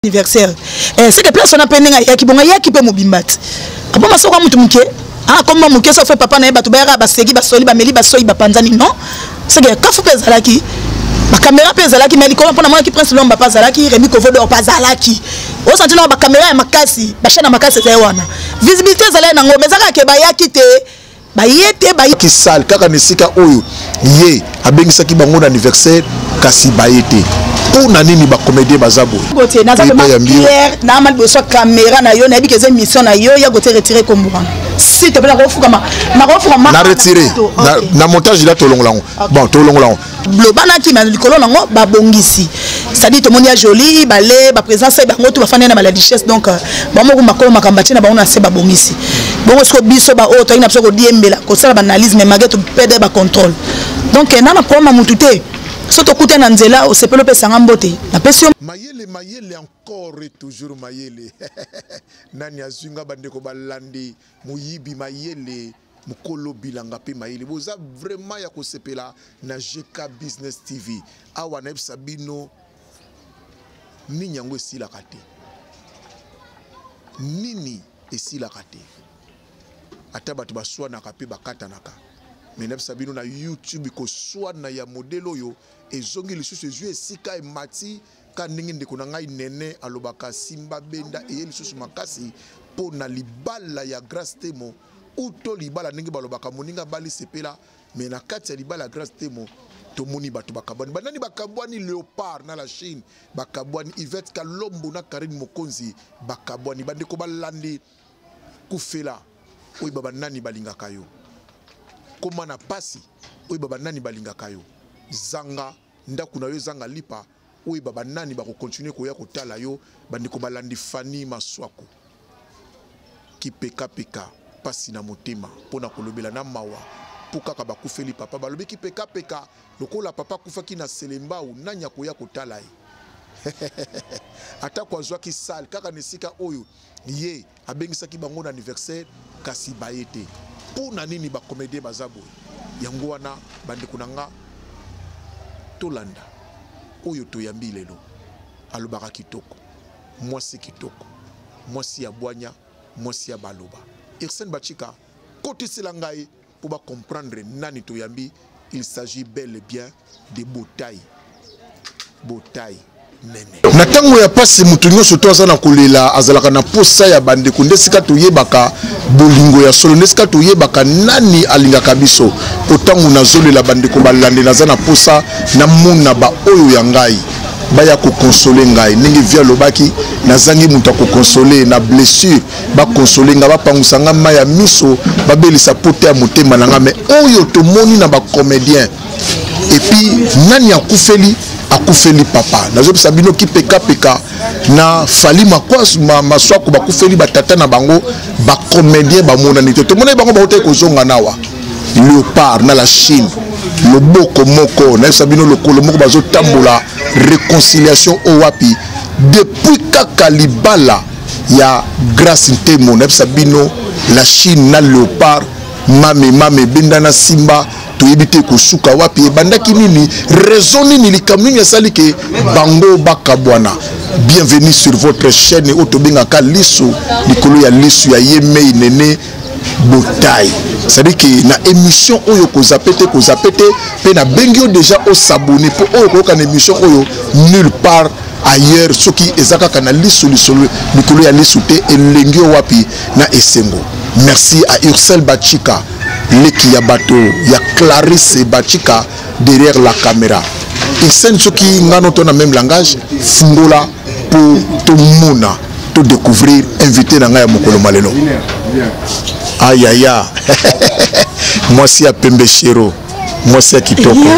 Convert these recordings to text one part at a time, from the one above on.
anniversaire eh, seke place wana mpe ndenge ayaki bongo ayaki mpe mobimba ti apo masoko ya motu moke akomba ah, moke so fe papa na ye bato bayaka baseki basoli bameli basoi bapanzani non seke kafu mpe ezalaki bakamera mpe ezalaki mai likolo mpo namonaki prince lomba mpe azalaki remi kovodor mpe azalaki osanti nao bakamera ya makasi bashana makasi ezali wana visibilité ezalaki nango mais ezakaka ke bayaki te baye te baye kisal kaka na esika oyo ye abengisaki bango na anniversaire kasi baye te mpo na nini bacomédien baza boye naza vraiment claire na ma liboso ya kamera na yo nayebi ke eza émission na yo ya kote retire kombo wana si te mpe nakofukama nakofukama na retire na montage ila tolongola yango bon tolongola yango lobanaki na likolo nango babongisi cestadire tomoni ya joli bale baprésence ya bango to bafandi na maladichesse donc euh, bango moko makolo makambo atie na bango na se babongisi bongo siko biso baoyo toyaki na biso kodiembela kosala baanalyse mais malgré topede bacontrôle donc euh, na na problème ya motu te so tokuta na nzela osepeli opesanga mbote napesi yo mayele mayele encore et toujours mayele nani azwi nga bandeko balandi moyibi mayele mokolo bilanga mpe mayele boza vraiment ya kosepela na gk business tv awa nayebisa bino nini yango esilaka te nini esilaka te ata bato baswanaka mpe bakatanaka me nayebisa bino na youtube koswana ya modele oyo ezongi lisusu ezwi esika emati ka ndenge ndeko na ngai nene alobaka simba benda eye lisusu makasi mpo na libala ya grace temo uto libala ndenge balobaka moninga abali sepela me na kati ya libala ya grace temo tomoni bato bakabwani banani bakabwani leopard na la chine bakabwani ivette kalombo na karine mokonzi bakabwani bandeko balandi kufela oyeba banani balingaka yo koma na pasi oyeba banani balingaka yo zanga ndaku na yo ezanga lipa oyeba banani bakokontinue koya kotala yo bandeko balandi fani maswaku kipekapeka mpasi na motema mpo na kolobela na mawa mpo kaka bakufeli papa balobi kipekapeka lokola papa akufaki na selembau nani akoya kotala ye atako azwaki sale kaka na esika oyo ye abengisaki bango na anniversaire kasi baye te mpo na nini bakomedie baza boye yango wana bandeko na nga tolanda oyo toyambi lelo alobaka kitoko mwasi kitoko mwasi ya bwanya mwasi ya baloba irsene bachika kotisela ngai mpo ba comprendre nani toyambi il s'agit bel et bien de botai botai na ntango ya mpasi moto nyonso to aza na kolela azalaka na mposa ya bandeko nde esika toyebaka bolingo ya solo nde esika toyebaka nani alingaka biso mpo ntango nazolela bandeko balande naza na mposa namona baoyo ya ngai baya kokonsole ngai ndenge vi alobaki nazangi moto ya kokonsole na blessure bakonsole nga bapangusa nga mai ya miso babelisa pota ya motema na nga me oyo tomoni na bacomédien epuis nani akufeli akufeli papa nazopesa bino kipekapeka na fali makwasu ma, maswako bakufeli batata na bango bacomédien bamonani te tomonani bango bautaki kozonga nawa leopard na la chine loboko moko nayebisa bino lokolo moko bazotambola réconciliation oyo wapi depuis kaka libala ya grace ntemo nayebisa bino la chine na leopard mame mame ebenda na simba toyebi te kosuka wapi ebandaki nini raison nini likambo nini esali ke bango bakabwana bienvenue sur votre chaîne oyo tobengaka lisu likolo ya lisu ya ye mei nene botayi cestadire ke na émission oyo kozape te kozape te mpe nabengi yo déjà osabone mpo oyo koyoka na émission oyo nulle part ailleurs soki eza kaka na lisu lisolo likolo ya lisu te elengi yo wapi na esengo merci à ursel bachika leki ya bato ya clarisse bachika derrière la caméra isen soki ngano to na même langage fungola mpo tomona to découvrir invité na ngai ya mokolo malelo ayaya mwasi ya pembe shero mwasi ya kitoko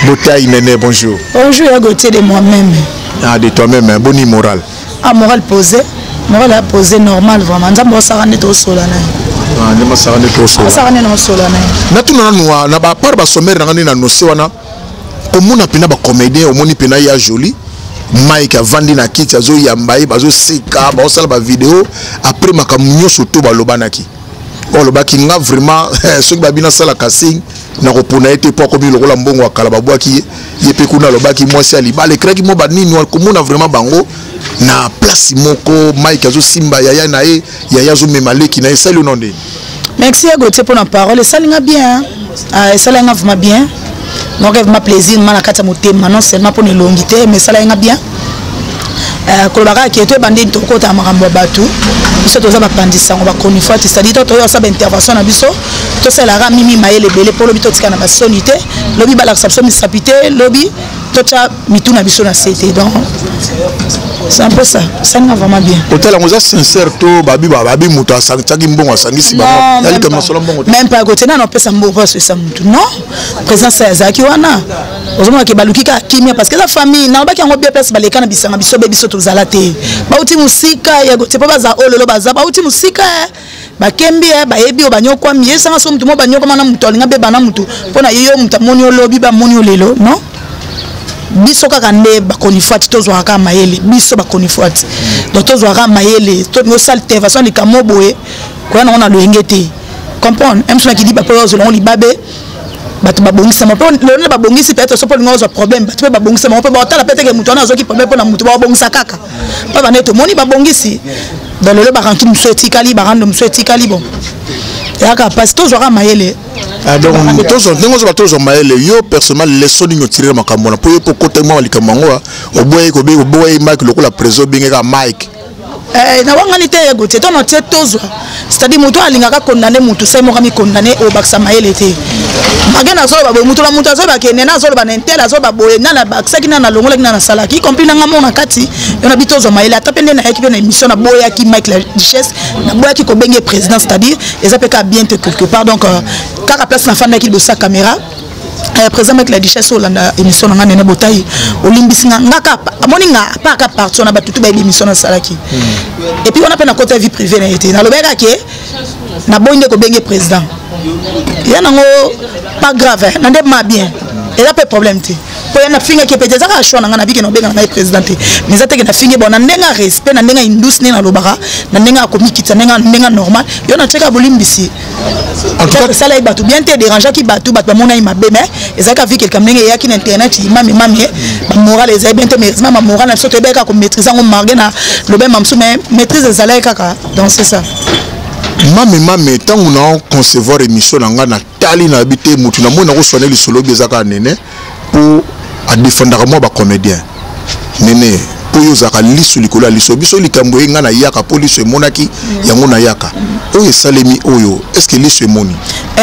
botai nene bonjour bonjour ya gautier de moi-même ah de toi-même hein? boni moral ah moral posé moral ya posé normal vraiment nzambe osaka nde tosola na ye nde masaka nde tosola masaka nde na mosola na ye natuna nanu na bapart basomere na ngai nde na nose wana omona pena ba comédien omoni pena ya jolie mike avandi na kiti azoyamba ye bazoseka baosala bavideo après makambo nyonso to balobanaki olobaki nga vraiment eh, soki babi nasalaka sing nakopona ye te mpo akomi lokola mbongo ya kala babwaki ye ye mpe kuna alobaki mwasi ya libala ekraki mwa banini komona vraiment bango na place moko mike azosimba yaya na ye yaya azomema leki na ye esali ono ndeni merci ya gautier mpo na parole esali nga bien ah, esali nga vraiment bien donc evma plaisir ma na kati ya motema non seulement mpo na elongi te mais esala nga bien euh, koloba kaka ke toyeba nde tokotaka makambo ya bato biso toza bapanzi sango bachronifuati cetadire to toyeba sa baintervention na biso tosalelaka mimi mayele ebele mpo lobi totika na basoni te lobi balakisa biso misapi te lobi totya mitu na biso na sete donc c'est un peu ça esalinga vraiment bien hôtel yango oza sincère to babi babi moto asangaki mbongo asangisi bangoyalika masolo mbongo même pas kote nano apesa mbongo mpo asoyisa motu non présence ya azalaki wana ozomona ke baluki kaka kimia parce que eza famille nalobaki yango bien place baleka na bisanga biso be biso tozala te bauti mosika ya kote mpo baza ololo baza bauti mosika bakembi eh, bayebi oyo banyokwami yesanga so motu mo banyokwama na motu alinga beba na motu mpo na ye yo motu amoni olobi bamoni yo lelo non biso kaka nde bakonifuati tozwaka kaka mayele biso bakonifuati donc tozwaka mayele tosala te façon likambo boye koya nango na loyenge te comprendre mso na kidiba mpo ozela yango libabe bato babongisama mpe lelo nde babongisi peut-être soki olinga ozwa problème bato mpe babongisama mpe baotala mpe teke moto wana azwaki problème mpo na moto babongisa kaka mpo bande tomoni babongisi don lelo barantu mosusu etikali barando mosusu etikali bon eyaka mpasi tozwaka mayele ah, donc ndenge ozoba tozwa mayele yo personnellement leso nini otirela makambo wana mpo yo mpo okota mwa likambo yango oboyaki oboyaki mike lokola preso obengeka mike Eh, na wangani te ye gotie to na tie tozwa c'est-à-dire moto oyo alingaka condamne motu sai moko amicondamne obakisa mayele te mage nazoloba boye moto na moto azoloba ke nena azoloba na intel azoloba boye nani abakisaki nani alongolaki nani asalaki y compris nanga moko na kati yo na bi tozwa mayele ata mpe nde nayaki mpe na émission naboyaki mike la duchesse naboyaki kobenge président c'est-à-dire eza mpe kaka bien te quelque part donc euh, kaka place nafandaki liboso ya caméra eh, président mike la duchesse olanda émission na nga nene botayi olimbisi nga nga ka amoni nga pa ka parti wana bato tu bayebi émission nasalaki hmm. epuis wana mpe na kota vie privé na ye te nalobaka ke naboyi nde kobenge président ya nango pas grave na nde ma bien eza mpe problème te mpo ya nafingaki mpe te eza kaka choix na ngai nabiki na obenga na ngai président te mais eza teke nafingi bon na ndenge ya respect na ndenge ya indus ndenge nalobaka na ndenge ya komikitisa ndenge normal yo natyeka bolimbisi kosala ye bato bien te dérangeaki bato bato bamonaki mabe mais ezalaki avi quelque ndenge eyaki na internet imami mami bamoral ezali bien te mais heureusement bamoral na biso toyebaki kaka komaîtrise yango marge na lobe mamsu mais maîtrise ezalaki kaka dans ce ça mame mame ntango na concevoir émission na ngai natali nayebi te motu namoni nakoswane lisolo obi eza kaka nene mpo adefendaka mwa bacomédien nene mpo yo ozalaka lisu likolo ya liso biso likambo eye ngai nayaka mpo liso emonaki yango nayaka oyo esalemi oyo estce que liso emoni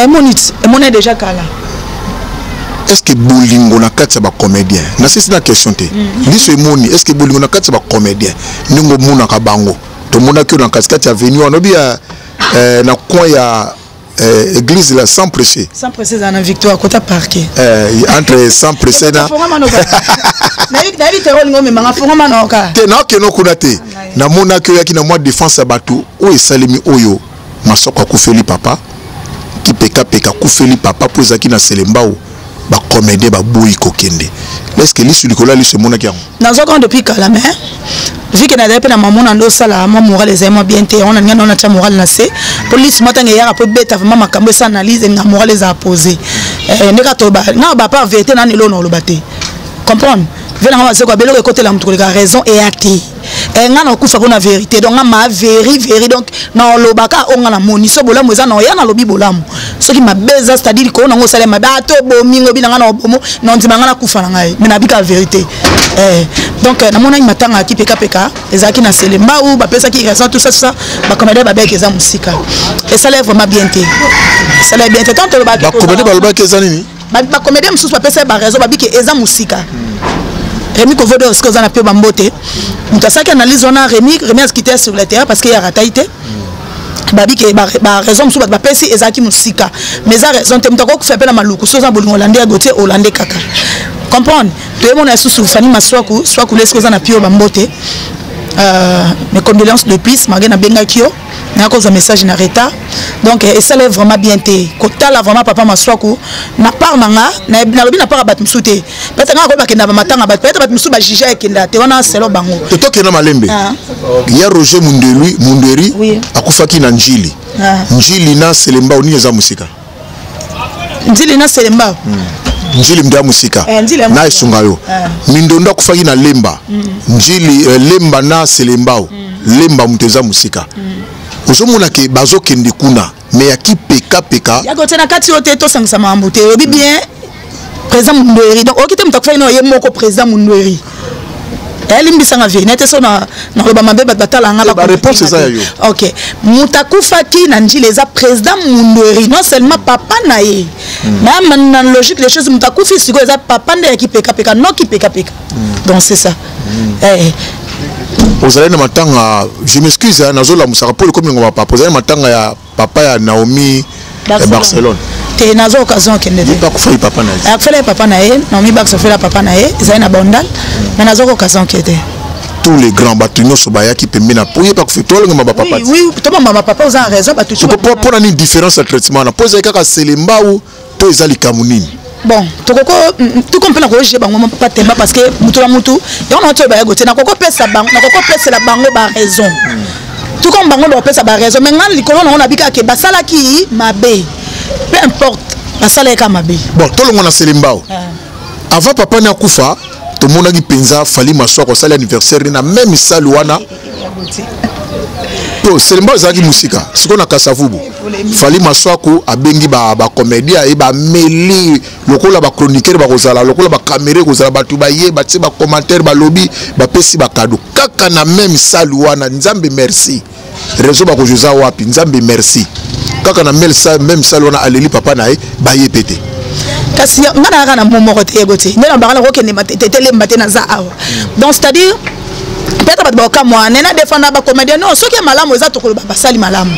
emoni emoni deja kala est-ce que bolingo na kati ya bacomédien nasisi na question te mm. liso emoni est-ce que bolingo na kati ya bacomédien ndenge omonaka bango tomonaki oyo na katikati ya venu wana obi ya eh, na coin ya eh, église là sans presser sans presser dans la victoire kota parquet eh, entre sans presser na nayebi nayebi terror lingo mais manga fonga manoka te na que no kuna te ah, na mona que yaki na moi défense ya bato oyo esalemi oyo masoko akufeli papa kipeka peka kufeli papa po ezaki na selembao ba comédien ba boyi kokende est-ce que lisu likolo ya lisu emonaki yango naza kaka depuis kala mais vike nazali mpe na mamo na nde osala mwa moral ezali mwa bien te yango nalinga nao natya moral na se mpo lisu mwa ntango eyaka mpo ebeta vraimen makambo esa analyse elinga moral ezala pose eh, nde kaka nga bapa verité nani eloo na oloba te comprendre ve nanga bazeko abeloko ekotela moto koleka raison eya te eh, nga nakokufa mpo na verité donc nga ma veri veri donc naolobaka oyo nga namoni so bolamu eza na oya nalobi bolamu soki mabe eza c'est-à-dire koo nango osala mabe ata ah, obomi ngobi na nga na obomo na ondima nga nakufa na ngai me nabika verité eh, donc eh, namonaki matanga ya kipekapeka ezalaki na selembau bapesaki raison tout ça tout ça bacomédien babeke eza mosika esalai vraiment bien te esalai bien te tant tolobaki bacomédien balobaki eza nini ba comédien mosusu bapesa ye baraison babi ke eza mosika hmm. remi kovodo oske oza na mpe bambote moto asalaki analyse wana remi remi azkite sur le terrain parce que ye aratai te hmm. babi ke baraison mosusu bato bapesi ezalaki mosika mais eza raison te moto akokufa mpe na maluku soki oza bolingo olande ya gotie olande kaka comprendre toyemona lisusu fani maswaku swaku leske oza na pio bambote euh, mes condoléances de plus malgré nabengaki yo nakozwa message na retard donc eh, esala vraiment bien te kotala vraiment papa maswaku na part na nga nalobi na part ya bato mosusu te pete nga akoyeba kenda bamatanga bato pete bato mosusu bajuge ekenda te wana selo bango totokenda malembe ah. ya roger mundelui munderi akufaki na njili ah. njili na selembao nini eza mosika nzili na selemba hmm. njili mdia mosika eh, na esunga yo eh. mindondo akufaki na lemba hmm. njili eh, lemba na selembao hmm. lemba moto eza mosika ozomona ke bazokende kuna me ya kipekapeka yakotya na kati oyo te tosangisa makambo te oyebi bien président mundueri donc oyoki te moto akufaki nayo ye moko président mundueri elimbisanga viri nete so naloba mabe bato batala nga bareponse eza ya yo ok moto akufaki na njila eza président mundueri non seulement papa na ye hmm. na na logique des choses moto akufi sikoyo eza papa nde ya kipekapeka no kipekapeka hmm. donc c'est ça hmm. eh, eh. ozali na matanga je m'excuse nazolamusaka mpo lokomi ngoma papa ozali na matanga ya papa ya Naomi ya Barcelone te naza occasion akende te akufaki papa na ye akufela ye papa na ye Naomi Bax ofela papa na ye ezali na Bandal mais naza occasion akende te tous les grands bato nyonso bayaki pembe na po yeba kofe tolongema bapapa oui, oui, tobamba bapapa oza na raison bato soko mpo na nini différence ya traitement wana mpo ezali kaka selembau to eza likambo nini bon tokoko toko mpe nakoyogile bango mpa temba parce que motu na motu yango na toyeba yago te nakokopesa bango nakokopesela bango baraison tout comme bango bakopesa baraison mais ngai likolo nango nabi kaka ke basalaki mabe peu importe basalaki kaka mabe bon tolongo na selembao ah. avant papa ni akufa tomonaki mpenza fali maswako asali anniversaire na meme misali wana to selemba ezalaki mosika sikoyo na kasavubu fali maswaku abengi bacomédia ye bameli lokola bachroniqueur bakozala lokola bakamere ekozala bato baye batie bacommentaire balobi bapesi bakado kaka na meme sale wana nzambe merci réseau bakozo eza wapi nzambe merci kaka na meme sale wana aleli papa na ye baye pe te kasi ngai nayaka na mo moko te yego te nde na baka nakokende te telemba te naza awa donc c'est à dire peut-être bato bakokamwa nena defanda bacomédien non soki ya malamu eza tokoloba basali malamu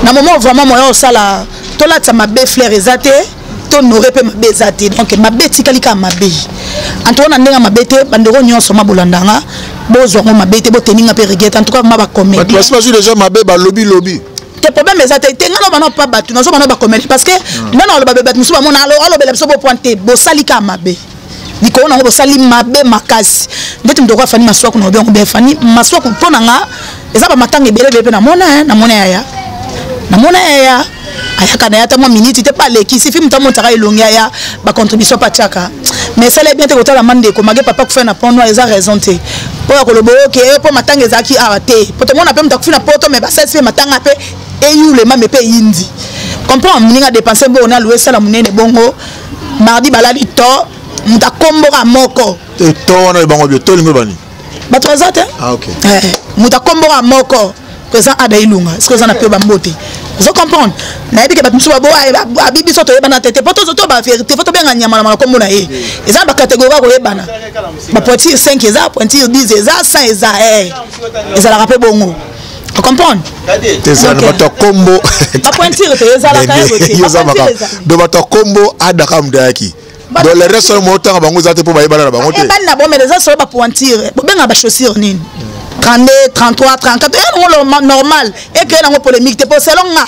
na moment vraiment moya osala tolatisa mabe flaire eza te tonore mpe mabe eza te donc mabe etikali kaka mabe antuka na ndenge mabe te bandeko nyonso mabolandanga bozwa ngo mabe te boteninga mpe regrete antuka ma bacomédien basi bazwi deja mabe balobi lobi te problème eza te te ngai nobana mpa bato nazobana bakomeli parce que ngai na oloba bato mosusu bamona alobela biso bopoint te bosali kaka mabe likolo nango bosali mabe makasi ndeti moto okoya fani maswaku na obiango bia fani maswaku mpo na nga eza bamatanga ebele ebele mpe namona eh, namona yaya namona yaya ayaka na ye ata mwa miniti te mpe alekisi fi moto amonisaka elongi aya bacontribution mpe atiaka mais esala ye bien te kotala ma ndeko mage papa kufa na pont noir eza raison te mpo ya koloba oke eh, mpo matanga ezalaki awa te mpo tomona mpe moto akufi na poto mais basalisi mpe matanga mpe eyulema me mpe eyindi comprendre moninga dépense bongo na loue esala monene bongo mardi balali to moto akomboka moko eh, to wana oyo bango bio to olingo bani bato baza te ah, eh, moto akomboka moko président ada ilunga soki oza na mpe bambote ozo comprendre nayebi ke bato mosusu babo abi biso toyebana te te mpo tozoto bavérité fo tobenga nyama na makombo na ye eza na bacatégorie ya koyebana bapointire 5 eza pointire 10 eza 100 eza eh. ezalaka mpe bongo ocomprendre ezala na bato ya kombo do bato ya kombo adaka moto ayaki do le reste wana mootanga bango eza te mpo bayebana na bango tebani na bomele eza solo bapointire bobengaka bachaussure nini 32 33 34 yango normal ekeye nango polémique te mpo selon nga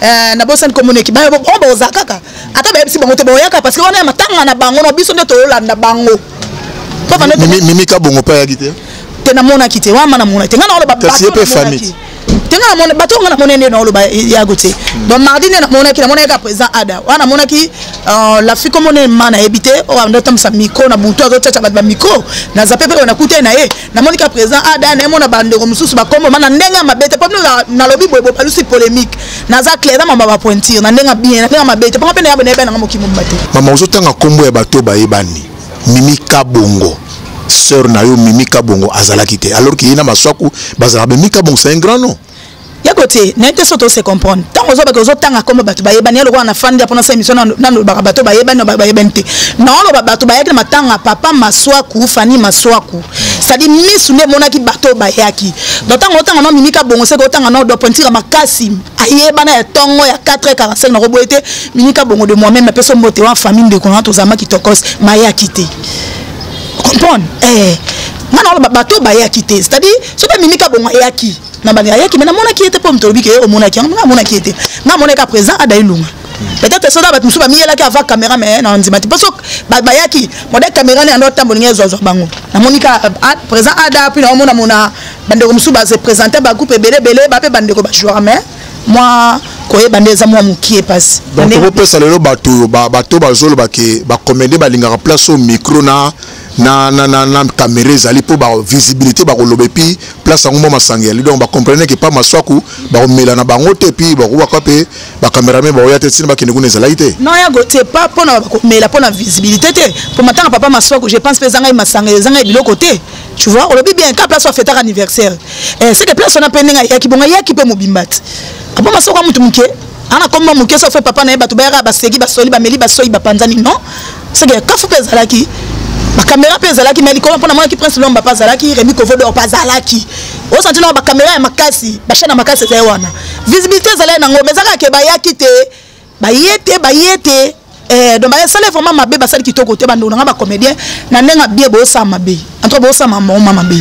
Eh, na bosani komoneki bayo oh, boza kaka ata bayebisi bango te boyaka parce que wana ya matanga na bango na biso nde tolanda bango mimika bongo mpe ayaki te te namonaki te wama namona te ngai naoloba kasi ye mpe famille tenga na mona bato nga na mona nde na oloba yago te donc mardi nde na monaki na monaki ka président ada wana monaki euh, la fille comme on est mana ebité o oh, ando tamsa micro na buto azo tchatcha bat ba micro na zape pe na kuta na ye namoni ka président ada na ye mona bandeko mosusu bakombo ma na ndenge ya mabe te mpo bino nalobi boye bobalusi polémique naza claire na mama bapointure na ndenge bien na ndenge ya mabe te mpo nga mpe nayabe nayebani nanga mokimo mba te mama ozotanga nkombo ya bato bayebani mimi kabongo sœur na yo mimi kabongo azalaki te alors ke ye na maswaku bazalaka mimi kabongo c'est un grand nom yako te nayebi te soki tose comprendre ntango ozobaka ozotanga nkombo bato bayebani ye lokola na fandi apona sa émission nalobaka bato bayebani bayebani te naoloba bato bayaki na matanga ya papa maswaku fani maswaku cetadi misu nde emonaki bato bayaki do ntango otanga no mimika bongo seke otanga no dopointika makasi ayebana ya ntongo ya 4 45 nakoboye te mimika bongo de moi meme apesa mbote wana famille ndeko na tozalama kitokos mayaki te comprendre eh. nga naoloba bato bayaki te cetadi soki amimi ka bongo ayaki na bani ayaki me namonaki ye te mpo mitolobi ke omonaki yango nga amonaki ye te nga amonaki apresent adai lunga peut-être soda bato mosusu bamiyelaki ava caméra me na ndima te mpo so bayaki modèle caméra ne yando atambola ngai ezwazwa bango namoni ka présent ada mpe naomona mona bandeko mosusu base présente bagroupe ebele ebele bape bandeko bajoueur mais mwa koyeba nde eza mwa mokie mpasi donc tokopesa lelo bato oyo bato bazoloba ke bakomede balingaka place oyo micro na na, na, na, na kamera ezali mpo bavisibilité bakoloba epi place yango mwa masanga yali donc bacomprene ke pa maswaku bakomela na bango te epi bakobaka mpe bacamerame bakoya te ntina bakende kuna ezalaki te non ya gotie pa mpona bakomela mpo na visibilité te mpo matanga papa maswaku je pense mpe ezangai masanga ezangai biloko te tu vois olobi bien ka place wafetaka anniversaire eh, seke place wana mpe ndenge ayaki bongo ayaki mpe mobimba te papa maswaku ya motu moke ana komi mwa moke sofe papa na ye bato bayaka basegi basoli bameli basoi bapanzani non seke kafu mpe ezalaki bakamera mpe ezalaki mai likolo mpo namonaki prince lomba mpe azalaki remi kovodor mpe azalaki osanti nao bakamera ya makasi bashane ya makasi ezali wana visibilité ezalaki nango mais ezakaka ke bayaki te baye te baye te Eh, donc basali vraiment mabe basali kitoko te bandeko na ngai bacomédien na ndenge abie bosala mabe antoka bosala mamoma mabe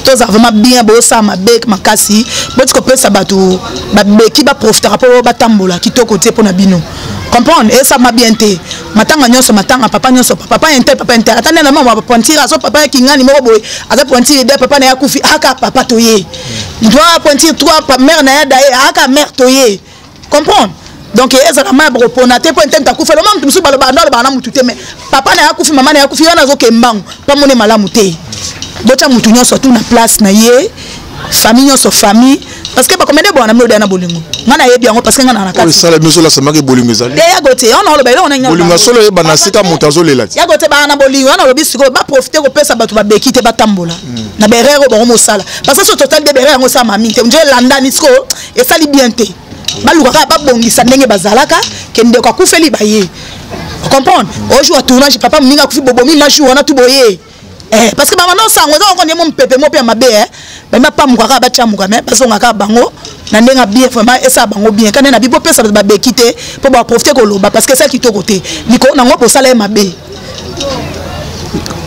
toza vraiment bien bosala mabe makasi boti kopesa bato babeki baprofitaka mpo batambola kitoko te mpo na bino comprendre esama bien te matanga nyonso matanga papa nyonso papa intel papa intel ata nena mama pointire azo papa ya kingani moko boye aza pointire de papa na ye akufi aka papa toye moto apointire trois mare na ye daye aka mare toye comprendre donc ezala mai bokopona te mpo entente akufa loma moto mosusu baloba ando alobaka na motu te mais papa na ye akufi mama na ye akufi wana azoke mbangu mpamone malamu te botya motu nyonso tu na place na ye famille nyonso famille parce que bakomende bwana na minoda na bolingo ngai nayebi yango parce que ngai na nakatiesala biso olasamaki bolingo ezali yago te ona oloba eloko nani bolingo asolo oyeba na sika moto azolela te yago te baa na bolingo wana olobi sikoyo baprofite kopesa bato babeki te batambola hmm. na berere oyo bango mosala parce que so totali de berere yango osalama mingi te nje elandani sikoyo esali bien te baluka kaka babongisa ndenge bazalaka ke ndeko akufeli baye comprendre ojour ya tournage papa moninga akufi bobomi majour wana tu boye eh, parce que bamana osango eza koko ndemo mpepe mo mpe ya mabe eh. bami bapamuka kaka batyamuka me bazonga kaka bango na ndenge bien vraiment esala bango bien kande na bibo pesa bato babeki te mpo baprofite koloba parce que esala kitoko te likolo nango mpe osala ye mabe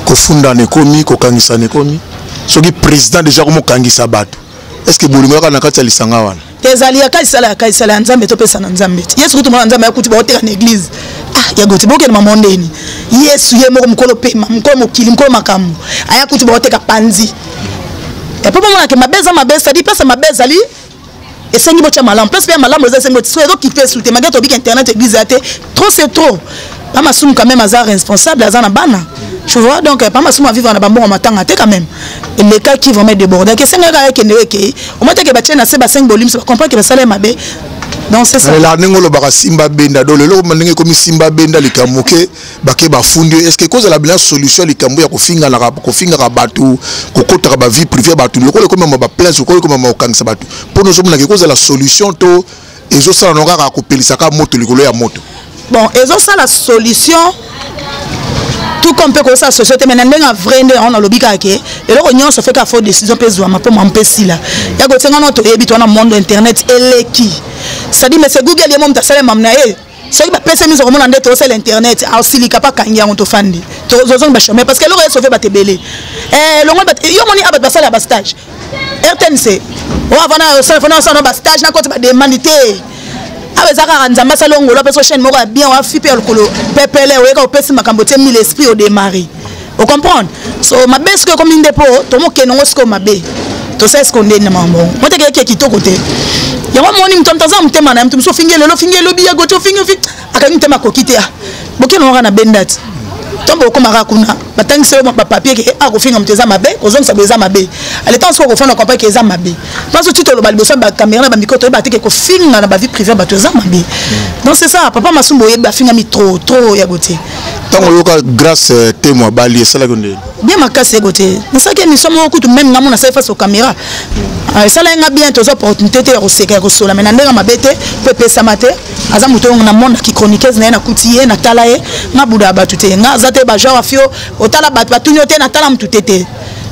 kofundana ekomi kokangisana ekomi soki président déjà komokangisa bato est ce que bolingo yaka na kati ya lisanga wana te ezali ya kaisala ya kaisala ya nzambe topesa na nzambe te yesu kutu mwana nzambe akuti baoteka na eglize ah ya goti bokende mama ndeni yesu ye moko mokolo pema mokolo mokili mokolo makambo aya kutu baoteka panzi epo bomonake mabe eza mabe ezali pesa mabe ezali esengi botya malamu place mpe ya malamu eza esengi botya so ezokipe esu te mage tobika internet eglize ya te trop c'est trop pa masumu quand même aza responsable aza na bana tu vois donc pa masumu avivre na bambongo matanga te quand même elekaki vraiment débordaki esengaka akende ekei omateke batie na se basengi bolimisa bacomprendre ke basala ye mabe lela ndenge olobaka simba benda do lelo ndenge ekomi simba benda likambo moke bake bafundi yo estce ekozala bina solution ya likambo ya kofinganaka kofingaka bato kokotaka bavie privé ya bato lokola ekomema baplace lokola ekomema kokangisa bato mpo nozomonaka ekozala solution to ezosala no kaka kopelisa kaka moto likolo ya moto bon ezosala solution tout comme mpe kosala société mais na ndenge ya vrai nde yango nalobi kaka ke eloko nyonso feka fo décision mpe ezwama mpo mama mpe esila ya kosenga no toyebi to wana monde internet eleki cestadire mese google ye mo moto asala mame na ye soki bapesi miso komona nde tosala internet asilika ah, mpa kangi yango tofandi tozozongi bachome parce que eloko ya sauve bato ebele eh, longo yo moni a ah, bato basala bastage rtnc oavanasana bastage nakoti bademande te awa ah, eza kaka nzambe asala ongolo apesa chaine moko ya bien wafi mpe ya lokolo pepele oyeka opesi makambo te mille esprit odemari o comprendre so mabe sikoyo ekomi nde mpo tomokende yango sikoyo mabe tosala sikoyo nde na mambo moteke yeke kitoko te yango moni moto moto aza motema na ye moto mosusu ofingi lelo ofingi elobi ya gote ofingi ofingi akangi motema akoki te ah, bokende yango kaka na bendati ntombo okomaka kuna batangisi yo bapapier ke akofinga ah, moto eza mabe kozongisa boye eza mabe aletan soki okofanda kompa ke eza mabe mpanso ti toloba liboso ya bakamera na bamikro toyeba te ke kofinga na bavie privé bato eza mabe donc c'est ça papa masumbu oyebi afingami trop trop ya gotie ntango oyoka grace euh, temo abali esalaki ndeni bien makasi eko te nasalaki émission moko kutu meme nga mona sali face au caméra ah, esalaki nga bien toza opportunité te ya koseka ya kosola mai na ndenge mabe te mpo epesama te aza moto yango na monde ki chroniqueuse na ye nakuti ye natala ye nga buda ya bato te nga aza te bagenre afio otala bato batuni yo te natala motu te te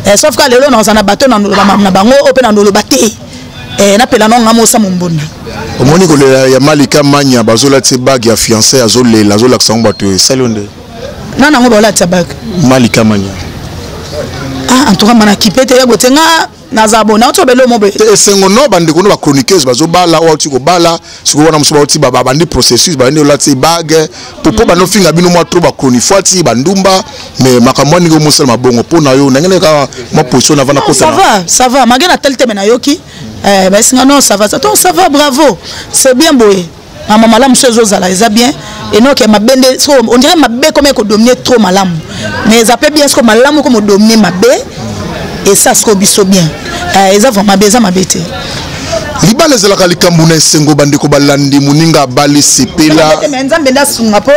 eh, sauf ka lelo naza na bato na bango oyo mpe na noloba te eh, napela no nga mosa mombonda omoni kolela ya malika manya bazolatisa bage ya fiancé azolela azolakisa yango bato esali yo nde nana yango baolatisa bage malika manya ah, en tout cas mana kipe te yebo te nga naza bona otyobele omobe esengo no bandeko no bachroniqueuse bazobala oyo auti kobala sikoyo wana mosusu bauti babandi processus babandi olati bague po po bando finga bino mwa tro bacronifuati bandumba mais makambo ya ndenge omosala mabongo mpo na yo ndenge neka mwa position navanda kosava sava mage na tali teme nayoki eh, baesinga non sava to sava bravo c'est bien boye na mamala mosusu ezozala eza bien enoke mabe nde so on dirait mabe comme ko dominer trop malamu mais eza pe bien siko malamu comme dominer mabe et ça siko biso bien euh, eza vraiment mabe eza mabe te libala ezalaka likambo na esengo bandeko balandi moninga abali sepela nzambe nde asunga mpo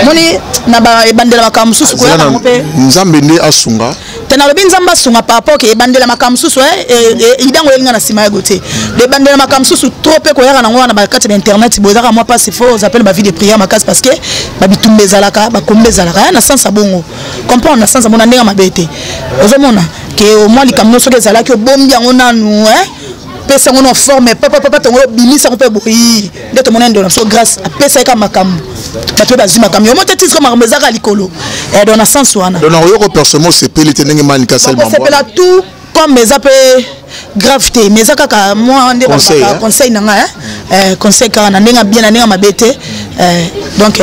moni na ebandela makambo mosusu koyaka yango mpe nzambe nde asunga te nalobi nzambe asunga par rapport ke ebandela makambo mosusu eh, eh, eh, idango elinga na nsima ya gote ebandela makambo mosusu trop mpe koyaka nango wana bakati ya internet boye ezaka mwa mpasi fo ozapele bavie de prière makasi parce que babitumba ezalaka bakomba ezalaka ya na sens ya bongo comprendre na sens ya bongo na ndenge mabe te ozomona ke omwa likambo nyonso soki ezalaki obombi yango nanu pesa yango na forme papa papa tongo bimisa yango mpe boyi nde tomona ndona biso grâce apesa ye ka makambo bato mpe bazwi makambo yango te titre makambo ezaka likolo eh, dona sens wana dona oyoko personnellement osepeli te ndenge mani kaselmosepela tout comme eza mpe grave te mais eza kaka mwa nde conseil na ngai eh, conseil kaka na ndenge bien na ndenge mabe te eh, donc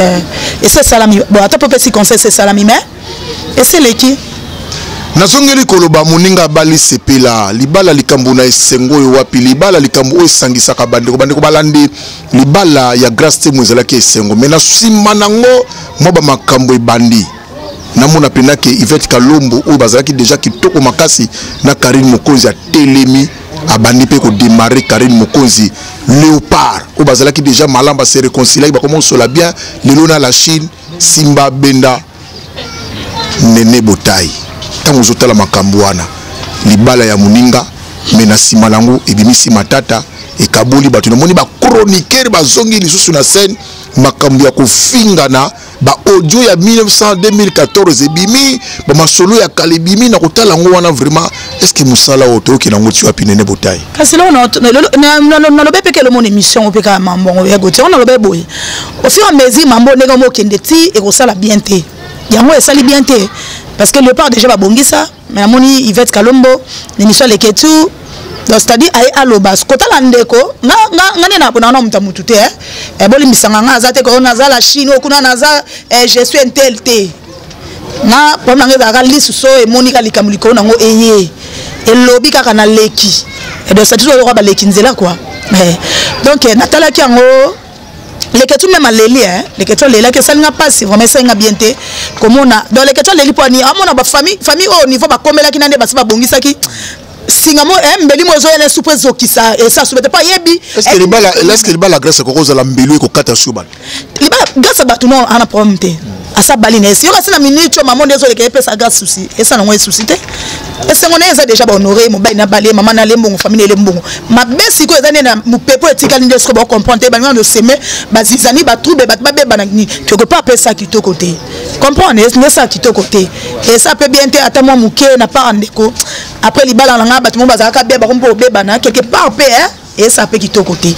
esi esalami bon ata mpe opesi conseil esi esalami mais esi eleki nazongeli koloba moninga abali sepela libala likambo na esengo oyo wapi libala likambo oyo esangisaka bandeko bandeko balandi libala ya grace temo ezalaki esengo me na nsima nango mwa bamakambo ebandi namona mpena ke ivete kalombo oyo bazalaki deja kitoko makasi na karine mokonzi atelemi abandi mpe kodemare karine mokonzi léopard oyo bazalaki deja malamu base réconciliaki bakoma kosola bien lelo na la chine Simba abenda Nene Botayi ntango ozotala makambo wana, libala ya moninga me na nsima na yango ebimisi matata, ekaboli bato. Namoni ba chroniqueur bazongi lisusu na scène, makambo ya kofingana ba audio ya 1900 2014 ebimi, ba masolo ya kala ebimi na kotala yango wana vraiment est-ce que musala oyo toyoki nango ti wapi nene botayi kasi lelo nalobi mpe kelo mona émission oyo mpe kaka mambo yango ya gotiango nalobi boye au fur et à mesure mambo ndenge yango okende ti ekosala bien te yango esali bien te parce que léopard déjà babongisa mais namoni ivette kalombo nemiso aleke tu donc c'est-à-dire aye aloba kotala ndeko nga nde napona wana moto ya motu te eh, bolimbisanga nga aza te koyo naza la chine okuna naza eh, je suis intel te nga problème nanga ezalaka lisu so emoni ka likambo likolo nango eye elobi kaka na leki donc ça toujours oyoka baleki nzela quoi eh, donc eh, natalaki yango leketsu meme aleli eh. leketsu alelaki esali nga mpasi vraiment esali nga bien te komona donc leketsu aleli mpo ani amona bafamille famille oyo niveau bakomelaki na nde basi babongisaki singa mo eh, mbeli mo ezoya na supu ezokisa esa suba te mpo ayebi eske eh, libala grâce koko ozala mbelu ekokata suba libala grâce bato no ana problème te asa bali na esi yo kasi na minute oyo mama nde ezoleka epesa grâce souci esa nango esusi te esengo na ye eza déjà bahonore mobali na bale mama na lembongo famille elembongo mabe sikoyo eza nde na mopepe oyo etikali nde sikoyo bacomprendre te balingi na oseme bazizani batrouble bato babebana nini quelque part mpe esa kitoko te comprendre nde esa kitoko te esa mpe bien te ata mwa moke na part ndeko après libala na nga bato moko bazalaka beba bako mpe obebana quelque part mpe hein esa mpe kitoko te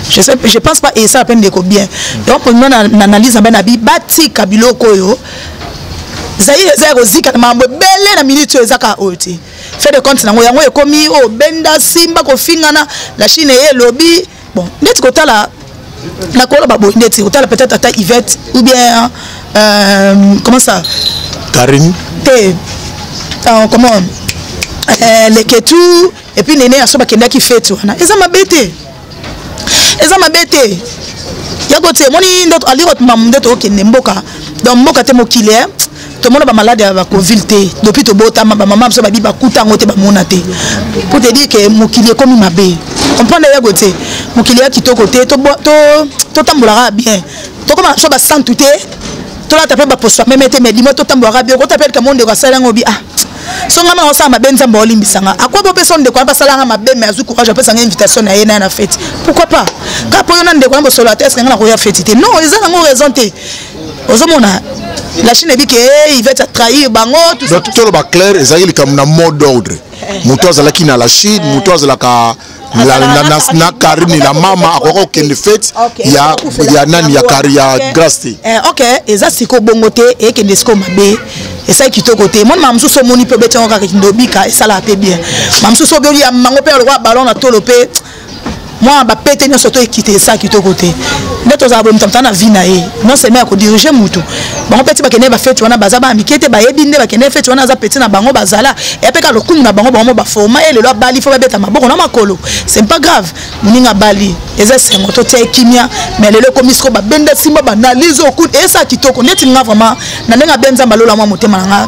je pense pas esa mpe ndeko bien donc mpo na analyse na bai na bi batika biloko oyo zaire eza ya kozika na makambo ebele na minute oyo ezaka oyo te fait de compte nango yango ekomi oyo oh, benda simba kofingana la chine eye elobi bon ndeti kotala nakoloba boye ndeti kotala peut-être ata ivette ou bien euh, comment ça karine te euh, comment euh, leketu et puis nene aso bakendaki fete wana eza mabe te eza mabe te ya kotie emoni nde aliko mamu nde tokokende mboka donc mboka te mokili tomona bamalade ya bacovile te dopi tobotama bamama biso babi bakuta yango te bamona te po te dire ke mokili ekomi mabe comprendre yago te mokili ya kitoko te totambolaka bien tokoma biso basantu te tolata mpe baposo meme te mais dimo totambolaka bien okota mpe lika mo ndeko asala yango bi ah so ngai maka osala mabe nzambe olimbisa nga akwa bopesa ndeko wana basala nga mabe mais azwi courage apesa nga invitation na ye na ye na fete pourquoi pas kaka mpo yo na ndeko wana bosolo ata eske ngai nakoya fete te non eza nango raison te ozomona la chine ebi ke eh, ivete atrahir bango donc toloba clair ezalaki likambo na mot d'ordre eh. moto azalaki na la chine eh. moto azalaka na karine la mama akoki kokende fete ya nani ya kari ya grace te ok eza siko bongo te ekende siko mabe esali kitoko te moni mama mosusu omoni mpe obeti yango kaka kindobika esalaka mpe bien mama mosusu obioli ya mango mpe lokola balon na tolo mpe mwana bapete nyonso to ekite esa kitoko te nde tozala boye moto amotala na vie na ye non seulement ya kodirige motu bango peti bakende bafeti wana baza bana mike te bayebi nde bakende feti wana aza peti na bango bazala eyapeka lokumu na bango bango baforma ye lelo abali fo babeta maboko na makolo c'est pas grave moninga abali eza esengo totia ekimia mais lelo ekomi siko babenda simba banalyse okut esa kitoko neti nga vraiment na ndenge abe nzambe alola mwa motema na nga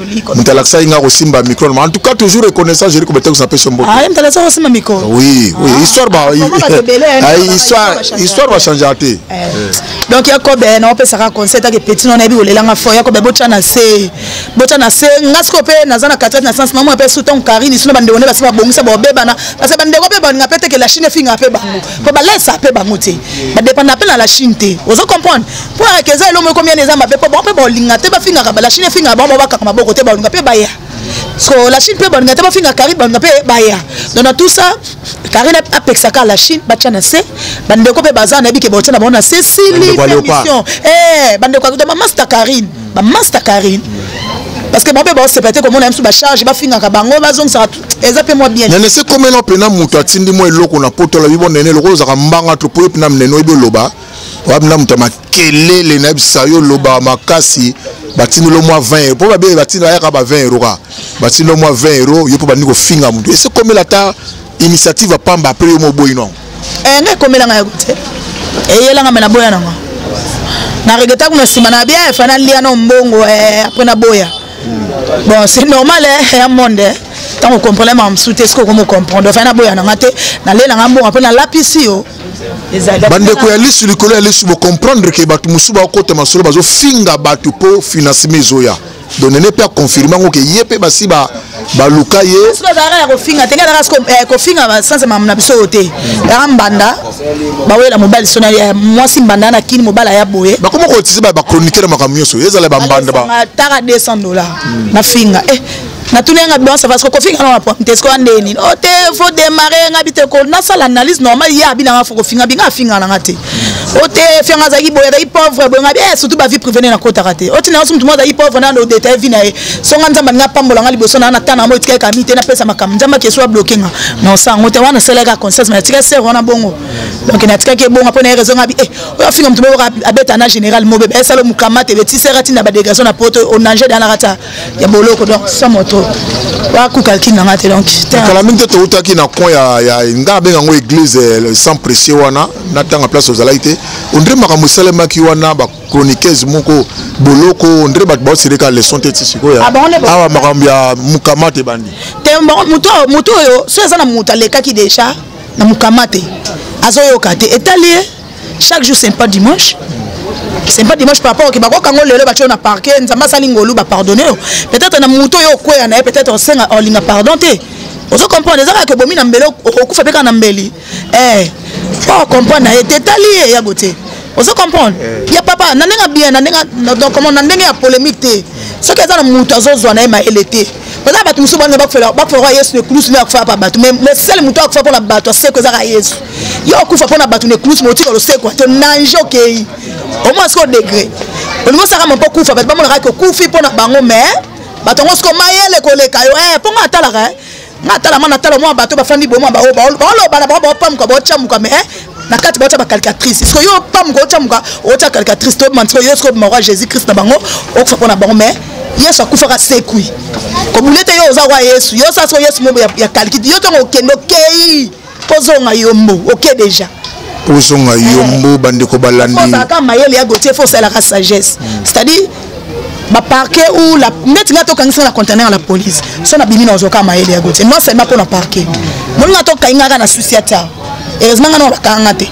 moto alakisaki nga kosimba micro na en tout cas toujours reconnaissant jeri kobete kosapesa mbote ah, moto alakisaki kosimba micro oui oui ah, histoire ba ah, histoire histoire bachangea te eh. donc yakobe eh, naopesaka conseil take petit no nayebi kolelanga fo yakobe eh, botya na se botya na se nga sikoyo mpe naza na katikati na sense namona mpe su ntango karine sino bandeko nde basi babongisa babebana parce que bandeko mpe balinga mpe teke la chine efinga mpe bango mpo balesa mpe bango te badepanda mpe na la chine te ozo comprendre Foire que eza elongo ekomi eza mabe po bango pe balinga te bafingaka ba la Chine efingaka bango babakaka maboko te balinga pe baya so la Chine pe balinga te bafinga Karine balinga pe baya donc na tout ça Karine apekisaka la Chine batya na se bandeko pe baza nayebi ke baotya na bango na se sili permission eh bandeko akuta bamasta Karine bamasta Karine parce que bango pe baosepa te komona biso bacharge bafingaka bango bazongisaka eza pe mwa bien nene se komela mpena moto atindi mwa eloko na poto alobi bo nene lokola ozaka mbanga to po yo mpena mnene oyebi oloba wapi na moto ya makelele nayebisa yo loba makasi batindelo mwa 20 euro mpo babe batindela yaka ba 20 euro kaka batindelo mwa 20 euro yo mpo bandiki kofinga motu ese komela ata initiative ya pamba apres yo moboyi nango eh, ngai komela ngai te eyela ngai me naboya nango na regreta kuna nsima na bia efa nalia na mbongo eh, apres naboya hmm. bon c'est normal eh, ya monde eh. ntango okomprene makambo mosusu te soki okomi okomprendre ofai naboya na ngai te nalela ngai mbongo mpe nalapisi yo bandeko ya lisu likolo ya lisu bocomprendre ke bato mosusu bakokota masolo bazofinga bato mpo financement ezoya donene mpe akonfirme yango ke ye mpe basi baluka ye azalaka ya kofinga te azalaka eh, kofinga basanse mamu na biso oyo te yaka mbanda bawela mobali sona ya eh, mwasi mbanda na kini mobali aya boye bakoma kotisi bachroniquer na makambo nyonso ezala bambanda taka 200 dollar na finga eh, natuni yanga bon ça va ce que kofinga na problème te ce qu'on ndeni oh te faut démarrer nga bite ko na sala analyse normale ya bina nga faut kofinga binga finga na ngate oh te finga za kiboya da pauvre bo nga bien eh, surtout ba vie privée na kota raté oh tina sum tumoza i pauvre na no détail vie na ye so nga nzamba nga pambola nga liboso na na tana mo tika kami te na pesa makam nzamba ke soit bloqué nga non ça ngote wana sala ka conscience mais tika sœur wana bongo donc na tika ke bongo pona raison nga bi eh oyo finga mtu mo abeta na général mo bebe esalo mukamate betisi ratina ba dégagation na poto on nager dans la rata ya boloko donc sa moto bakukalki na nga te donc kala mingi te toutaki na coin ya, ya nga abenga yango église eh, sans précieux wana natanga place ozalaki te ondre makambo esalemaki wana bachroniqueuse moko boloko ondre bato baosilika leson te ti sikoyo ah, awa makambo ya mokama te bandi te moto oyo soki aza na moto alekaki déjà na mokama te azoyoka te etali ye chaque jour c'est pas dimanche c'est pas dimanche par rapport oke bakokanga o lelo batyo na parke nzambe asali ngolu bapardonne yo peut-être na moto oyo okweya na ye peut-être osenga olinga pardon te ozo comprendre eza kaka obomi na mbeli okokufa mpe kaka na mbeli eh, po ocomprendre na ye te etali ye yago te ozo comprendre eh. ya papa na ndenge bien na ndenge donc comment na ndenge ya polémique te soki aza na moto azozwa na ye mayele te baza bato mosusu bana bakufelaka bakufelaka yesu ne kulusu nde akufaka mpa bato mais le seul moto akufaka mpo na bato aseko ezaka yesu yo okufa mpo na bato na ekluse motika losekwa to nanje okei omona sikoyo degre olingi osaka mo mpo kufa bato bamonaka ke okufi mpo na bango mais bato yango sikoyo mayele koleka yo eh, mpo nga atalaka eh. nga atala mwana atala mwa bato bafandi boma baoyo baoloba na bango baopamuka baotyamuka mais eh, na kati baotya bacaricatrice siko yo opamuka otyamuka otya caricatrice tobima siko yo siko obima kwa jésus christ na bango okufa mpo na bango mais yesu akufaka sekwi kobule te yo oza kwa yesu yo sa siko yesu mobo ya kaliki yo ntongo okende okei kozonga yombo oke okay deja ozonga eh. yombo bandeko balandiozalaka mayele ya gotier fo osalaka sagesse hmm. c'est-à-dire baparquet ou la neti ngai tokangisaka na contener la police so nabimi na ozwaka mayele ya gotier non seulement mpo na parquet molinga tokaingaka na susi ata heureusement ngai na bakanga te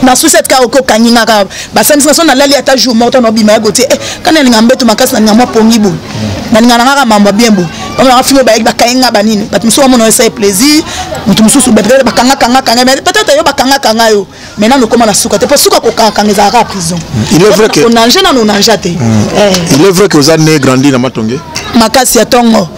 na suset kaka oke okangi nga kaka basambisi nga so nalali ata jour moko ta nobima ya gotie eh, ka nalinga mbeto makasi nalinga mwa pongi boye nalinga na ngaka mambo bien boye bamonaka filo bayaki bakangi nga banini bato mosusu bamona esai plaisir moto mosusu peut-être bakangakangakanga mais peut-être yo bakangakanga yo mais nanu okoma na suka te mpo suka kokangakanga ezalaka prison onange nanu onange te mm. eh. il est vrai que oza ne grandi na matonge makasi ya ntongo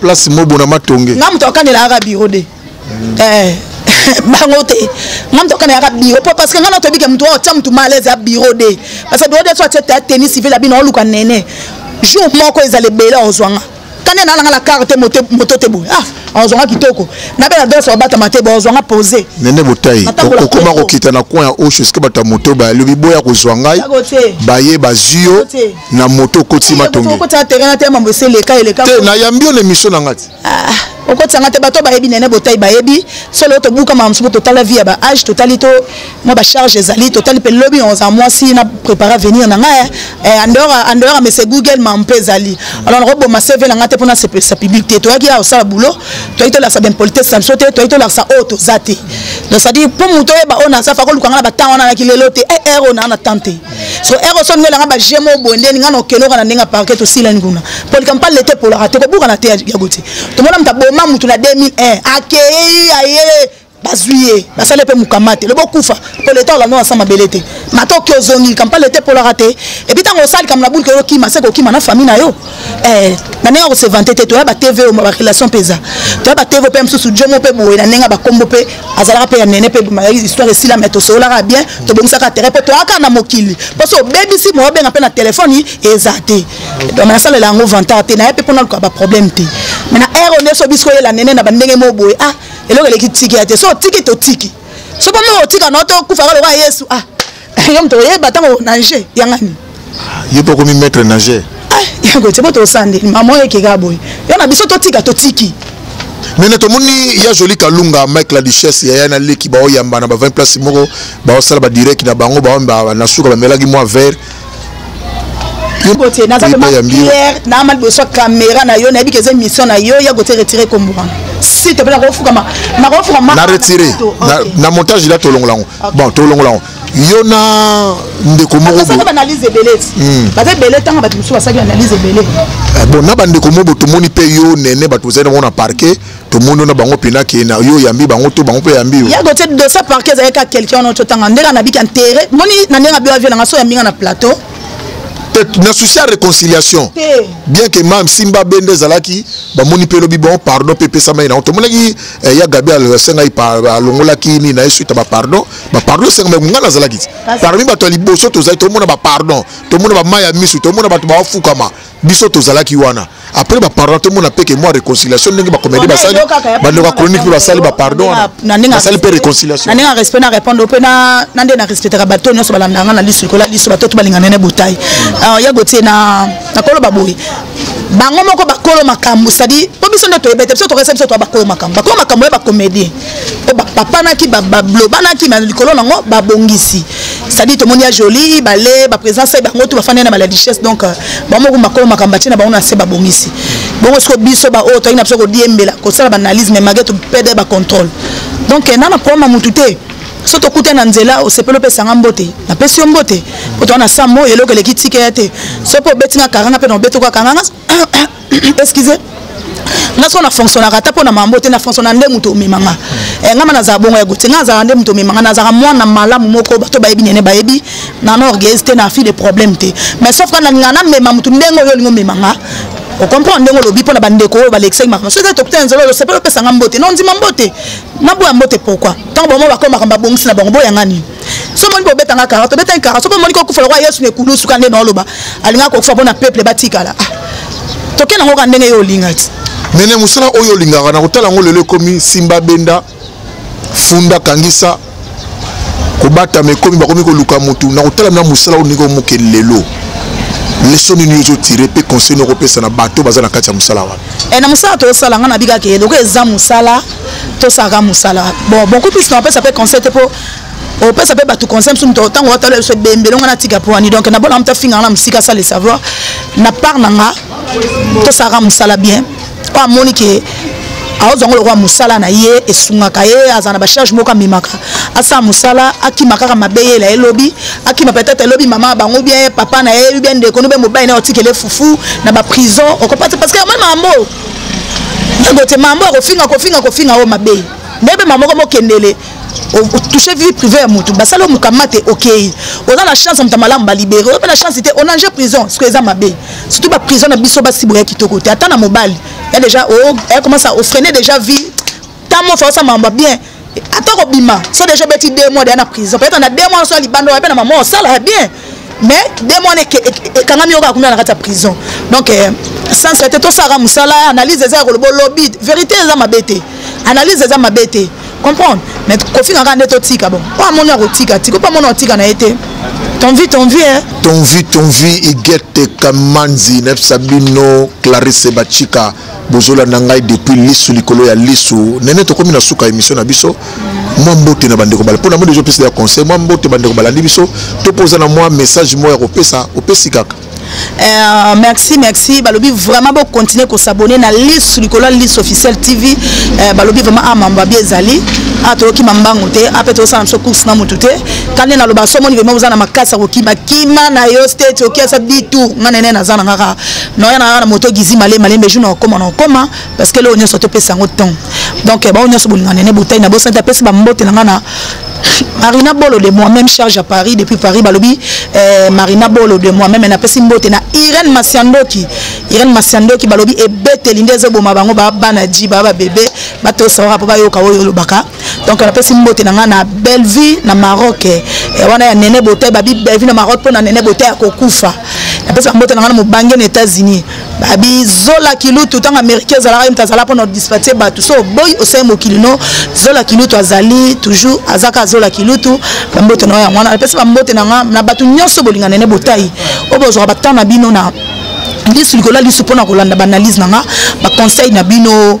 place mobo na matonge nga moto akanela aka biro de mm. eh. bango te nga moto akana yaka biro po parce que nga natoyebi ke moto oyo tia moto malaise ya biro de parce que biro de so atie ta tennis civil ya bino oluka nene jour moko ezala ebele ozwa nga kane na nanga na kar te moto te boye ah ozwanga kitoko na bela danse obatama te bozwanga pose nene botai okoma kokita na coin ya osho esika bato ya moto bayalobi boya kozwa ngai baye bazwi yo na moto okotisi matonge okotisa terrain na te mambo ese eleka eleka te nayambi yo na émission na nga ti ah, okotisa nga te bato bayebi nene botai bayebi solo tobuka mama mosusu totala vie ya ba age totali to mwa bacharge ezali totali mpe lobi oza mwasi na prépare avenir na ngai eh, andehora mese google ma mpe ezali alors nakoboma cv na ngai te mpona sepelisa public te toyaki ya kosala boulot toyaki tolakisa baimpolitesse na biso te toyaki tolakisa oyo toza te donc cetadire mpo moto oyeba oyo naza fa koluka ngai na batango wana naki lelo te er eh, eh, oyo naa na temps te so ero so ningela nga ba jemo bonde ninga no kenoka na ninga parquet to sila nguna polika mpal lete polaka te ko buka na te ya goti to mona mta boma mutu na 2001 akei aye bazwi ye basali mpe mokama te lobo kufa mpo leta olanda na sa mabele te matoki ozongi kampa leta epolaka te epi ntango osali kambo na bulike okima se kokima na famille na yo Eh, na ndenge akose vante te toya batv oyo barelation mpe eza toya batv mpe mosusu jomo mpe boye na ndenge bakombo mpe azalaka mpe ya nene mpe histoire esila me tosololaka bien tobongisaka terrain mpo toyaka na mokili mpo so obebisi moyobenga mpe na telefone eza te donc nasalela yango vantard te naye mpe mpo naluka baproblème te me na aire oyo nyonso biso oyela nene na bandenge moko boye ah eloko eleki tiki ya te so otiki totiki so mpo moko otika na otokufa kaka lokola yesu ah yo moto oyeba ntango nage ya ngani yo mpe okomi maître nageur ah, yango ete bo tosande mama oyo ekeka boye yo na biso totika totiki mene tomoni ya joli kalunga mike la duchesse yaya na leki baoyamba na ba 20 place moko baosala badirect na bango baomba na suka bamelaki mwa vert bote naza vraimen claire naama liboso ya kamera na yo nayebi ke eza émission na yo ya kote retire kombo wana site mpe nakofukama nakofukama na retire na montage ila tolongola yango bon tolongola yango yo na ndeko mokosaka baanalyse ebele hmm. baza ebele ntango bato mosusu basali analyse ebele eh, bon na bandeko mobo tomoni mpe yo nene bato ozali nango na parquet tomoni yo na bango mpena ke na yo oyambi bango to bango mpe oyambi yo yago te dosa parquet ezali kaka quelqu'un wana ototanga ndenge anabiki entere moni na ndenge abio avio nanga so oyambi nga na plateau na souci ya réconciliation bien que mam simba bende ezalaki bamoni mpe elobi bon pardon mpe epesamaki nango tomonaki eh, ya gabi asengai alongolaki nini na ye suite ya bapardon bapardon esengamaki ngai nazalaki ti parmi bato ya liboso tozali tomona bapardon tomona bamai ya misu tomona bato bafukama biso tozalaki wana après bapardon tomona mpe ke mwa réconciliation ndenge bakomedi basali bandeko ya chronique mpe basali bapardon basali mpe réconciliation na ndenge ya respect na répondre mpe na nde na respectaka bato nyonso balandanga na lisu likola lisu bato to balingana na botai hmm. ah, ya gotie na nakoloba boye bango moko bakolo makambo sadi mpo biso nde toyebi te biso tokesa biso toa bakolo makambo bakolo makambo ya bacomédien oyo bapapanaki bablobanaki ma likolo nango babongisi sadi tomoni ya joli bale baprésence ya bango to bafandi na maladichesse donc euh, bango moko bakolo makambo batie na bango na se babongisi bongo siko biso baoyo toyaki na biso kodiembela kosala baanalyse mais mage topede bacontrôle donc euh, nana problème ya motu te so tokuta na nzela osepeli opesa nga mbote napesi yo mbote po toa na sa moi eloko eleki tika ya te so mpe obeti nga karanga mpe na obeti oka karanga excuse nga soko na fonctionnaka ata mpo na mambo te na fonctionna nde moto omema nga eh, nga ma nazala bongo ya gote nga nazalaka nde moto omema nga nazalaka mwana malamu moko bato bayebi nene bayebi na na orgueuse te na fille de problème te mais sauf ka nalinga namema moto ndenge oyo olingi omema nga okomprendre ndenge olobi mpo na bandeko oyo balekisaki makambo soki tokuta ya nzela oyo osepeli opesa nga mbote na ondima mbote na boya mbote pourquoi ntango bango bakoma makambo babongisi na bango boyanga nini so omoni bobeta nga kara tobeta ye kara soki omoni kokufa lokola yesu na ekulu suka nde naoloba alingaka kokufa mpo na peuple batikala ah, toke nango ka ndenge yo olinga ti mene mosala oyo olingaka na kotala yango lelo ekomi simba benda funda kangisa kobatama ekomi bakomi koluka motu na kotalami na mosala oyo ndenge omoke lelo leso nini ozo tire mpe conseil noko opesa na bato baza na kati ya mosala wana e na mosala tosala ngai nabikaka eloko eza mosala tosalaka mosala bon beaucoup plus na opesa mpe conseil te mpo opesa mpe bato conseil mosusu moto ntango watala biso ebembele ngai natika mpo wani donc nabola moto afinganga na mosika asala le savoir na part na nga tosalaka mosala bien mpo amoni ke aozwa ngo lokola mosala na ye esungaka ye aza na bacharge moko amemaka asala mosala akima kaka mabe yela ye lobi akima peut-être elobi mama ya bango bien papa na ye bien ndeko no bien mobali na ye otikele fufu na baprison okopati parce que yamoni mambo yango te mambo akofinga kofinga kofinga oyo mabe ndebe mamoko mokendele touche vie privée ya motu basali omokama te okei oza na chance ya moto ya malamu balibere oyo mpe na chance te onange prison soki eza mabe surtout baprison na biso basi boya kitoko te ata na mobali ya déjà okomasa oh, ofrene déjà vie ntango ofa osala mambo bien ata kobima so déjà obeti deux mois deya na prison peut-être na deux mois oso ya libanda oya mpe na mama osala bien mais demo wana ekangami yoko akumela na kati ya prison donc euh, sens ete tosalaka mosala analyse eza ya koloba olobi verité eza mabe te analyse eza mabe te comprendre mais kofinga kaka nde totika bon oyo amoni akotika tika opo amoni akotika na ye te ton vie ton vie eh? ton vie ton vie igete kamanzi nayebisa bino clarisse bachika bozolanda ngai depuis lisu likolo ya lisu nene tokomi na suka émission na biso mwa mbote na bandeko bala mpona moni ezopesa ya conseil mwa mbote bandeko balandi biso to mpo oza na mwa message moko ya kopesa opesi kaka Euh, merci merci balobi vraiment bocontinue kosabone na lisu likolo ya lisu officiel tv euh, balobi vraiment a ah, mambo abi ezali a ah, toyokima mbangu te ape ah, tozosala biso course na motu te kande naloba somoni vraimen oza na makasi ya kokima kima na yo state okiasa bitu nga nene naza na ngaka naoya na na moto gizi male malembe jour nakokoma nakokoma parce que leo nyonso topesa yango temps donc eh, bango nyonso bolinga nene botai na bosani apesi bambote na ngai na marina bolo de moi même charge à paris depuis paris balobi eh, marina bolo de moi même napesi mbote na irene masiandoki irene masiandoki balobi ebeteli nde ezoboma bango babana ji baa babebe batosawaka mpo bayoka oyo olobaka donc napesi mbote na ngai na bellevue na maroc eh, wana ya nene botei babi bellevue na maroc mpo na nene botei ya kokufa napesi bambote na ngai na mobange na états-unis babi zola kilutu ntango américain ezalaka ye moto azala mpo na dispatie bato so oboyi osai mokili no zola kilutu azali toujours azaka zola kilutu bambote na yo yango wana napesi bambote na ngai na bato nyonso bolinga nene botai oyo bozwaka batemp na bino na lisu likolo ya lisu mpo na kolanda baanalyse na ngai baconseil na bino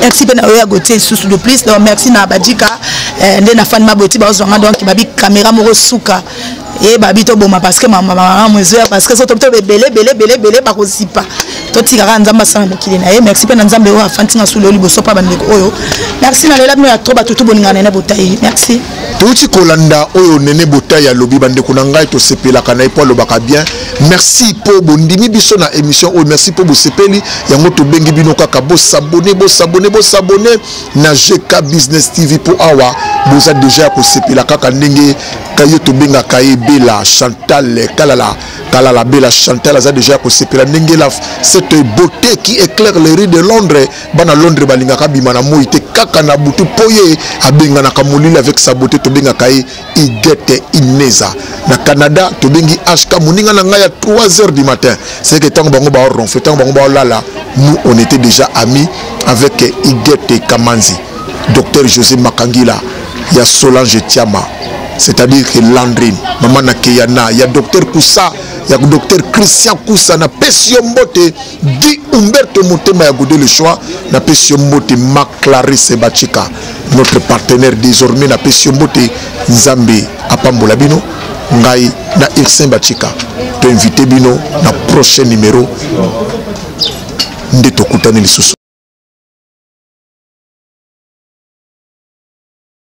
merci mpe na yo ya gotie lisusu de plus donc merci na badika eh, nde na fani maboti bazwa nga donc babi kamera moko suka ye babi toboma parce que mamamu ezoya parce que soto tobe ebele ebele ebele ebele bakozipa totika kaka nzambe asala mokili na ye merci mpe na nzambe oyo afandi nga suli oyo liboso mpa bandeko oyo merci na lela bino ya tro batutu bolingana nene botai merci touti kolanda oyo nene botai alobi bandeko na ngai tosepelaka na ye mpo alobaka bien merci mpo bondimi biso na émission oyo merci mpo bosepeli yango tobengi bino kaka bosabone bosabone bosabone na gk business tv mpo awa boza deja ya kosepela kaka ndenge kaye tobengaka ye bela chantal kalala kalala bela chantal aza deja ya kosepela ndenge la cette beauté qui éclaire les rues de londres bana londres balingaka bima na moi te kaka na butu mpo ye abenganaka molili avec sa beauté tobengaka ye igete ineza na canada tobengi hk moninga na ngai ya 3 heures du matin c'est que ntango bango baoronfe ntango bango baolala nous on était déjà amis avec igete kamanzi docteur josé makangila ya solange tiama c'est-à-dire que landrine mama na keyana ya docteur kusa ya docteur christian kusa napesi yo mbote di umberto motema ya gode le choix napesi yo mbote maclarise bachika notre partenaire désormais napesi yo mbote nzambe apambola bino ngai na ursin bachika toinvite bino na prochain numéro nde tokutani lisusu